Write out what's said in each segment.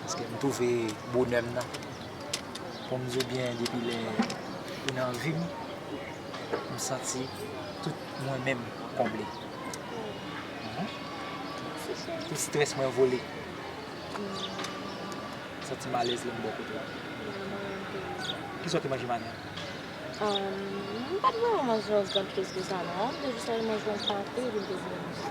Paske m twouve bonè m nan. Pou m di w byen depi lè ou nan vi m, m santi tout mwen menm konble. Tout strès mwen vole. M santi m alèz lè m bò kote w. Ki sa w te manje maten an? M pa t vrèman manje yon gran plis ke sa non. M te jis al manje yon pate epi m te vin manje.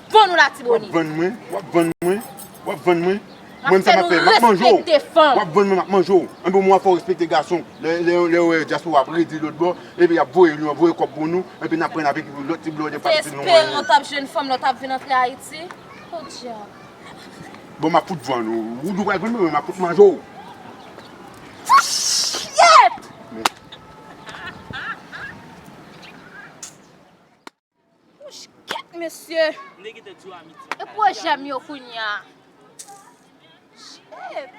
Bon nou latibonit. Wap vann mwen, wap vann mwen, wap vann mwen. Mwen sa map fè, map manje'w. Wap vann mwen map manje'w. Anben ou mwen fè ou respekte gason. Lè yo wè diaspora ap redi lòt bò, epi yap voye nou, yap voye kòb pou nou, epi nap pran avèk lòt ti blòdè pa itil nou anyen. Te espere ou tap jwenn fanm lè ou tap vin antre Ayiti? Podyab. Bon map fout vann ou. Ou di ou pral vann mwen men map fout manje'w. Fouchyyètt! Wouch kèt mesye. E pwojè m yo kounya. Shit.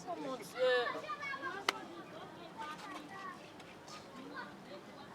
Oh mon dieu.